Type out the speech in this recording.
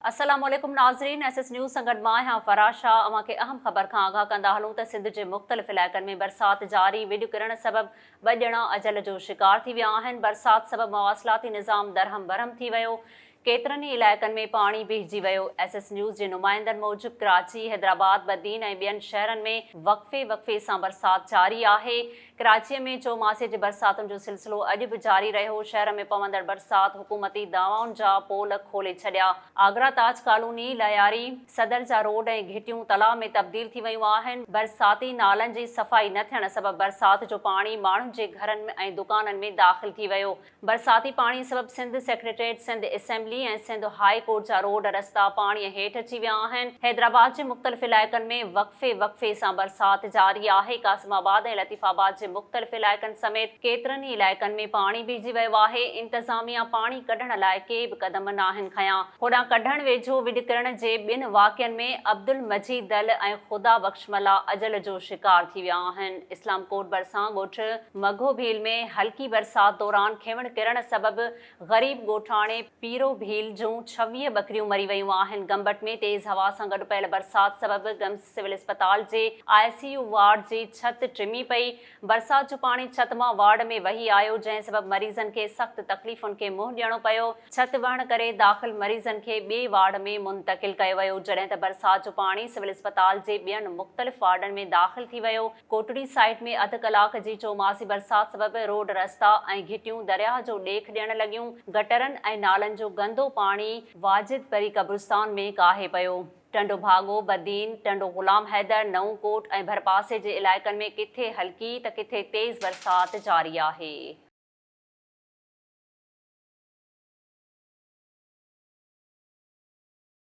السلام عليڪم ناظرين ايس ايس نيوز سان گڏ مان آهيان فرح شاهه اوهان کي اهم خبر کان آگاهه ڪندا هلون ته سنڌ جي مختلف علائقن ۾ برسات جاري ويڄ ڪرڻ سبب ٻه ڄڻا اجل جو شڪار ٿي ويا آهن برسات سبب مواصلاتي نظام درهم برهم ٿي ويو ڪيترن ئي علائقن ۾ پاڻي بيهجي ويو ايس ايس نيوز جي نمائندن موجب ڪراچي حيدرآباد بدين ۽ ٻين شهرن ۾ وقفي وقفي سان برسات جاري آهي ڪراچيء ۾ چوماسي جي برساتن جو سلسلو اڄ به جاري رهيو، شهر ۾ پوندڙ برسات حڪومتي دعوائن جا پول کولي ڇڏيا، آگرا تاج ڪالوني، لهياري، صدر جا روڊ ۽ گهٽيون تلاء ۾ تبديل ٿي ويون آهن، برساتي نالن جي صفائي نه ٿيڻ سبب برسات جو پاڻي ماڻهن جي گهرن ۽ دڪانن ۾ داخل ٿي ويو. برساتي پاڻي سبب Sindh secretariat, Sindh assembly ۽ Sindh high court جا روڊ رستا پاڻي هيٺ اچي ويا آهن. حيدرآباد جي مختلف علائقن ۾ وقفي وقفي سان برسات جاري آهي. قاسم آباد ۽ لطيف آباد جي مختلف علائقن سميت ڪيترن ئي علائقن ۾ پاڻي ڀرجي ويو آهي. انتظاميا پاڻي ڪڍڻ لاء ڪي به قدم ناهن کنيا. هوڏانهن ڪڍڻ ويجهو ويڏ ڪرڻ جي ٻن واقعن ۾ عبدالمجيد دل ۽ خدا بخش شملا اجل جو شڪار ٿي ويا آهن. اسلام ڪوٽ ڀرسان ڳوٺ مگهو ڀيل ۾ هلڪي برسات دوران کينوڻ ڪرڻ سبب غريب ڳوٺاڻي پيرو ڀيل جون ڇويهه ٻڪريون مري ويون آهن. گمبٽ ۾ تيز هوا سان گڏ پيل برسات سبب گمس سول اسپتال جي آء سي يو وارڊ جي ڇت ٽمي پئي، برسات جو پاڻي ڇت مان وارڊ ۾ وهي آيو جنهن سبب مريضن کي سخت تڪليفن کي منهن ڏيڻو پيو، ڇت وهڻ ڪري داخل مريضن کي ٻئي وارڊ ۾ منتقل ڪيو ويو جڏهن ته برسات جو پاڻي سول اسپتال جي ٻين مختلف وارڊن ۾ داخل ٿي ويو، ڪوٽڙي سائيٽ ۾ اڌ ڪلاڪ جي چوماسي برسات سبب روڊ رستا ۽ گهٽيون درياهه جو ڏيک ڏيڻ لڳيون، گٽرن ۽ نالن جو گندو پاڻي واجد پري قبرستان ۾ ڪاهي پيو. ٽنڊو ڀاڳو، بدين، ٽنڊو غلام حيدر، نئون ڪوٽ ۽ ڀرپاسي جي علائقن ۾ ڪٿي هلڪي ته ڪٿي تيز برسات جاري آهي.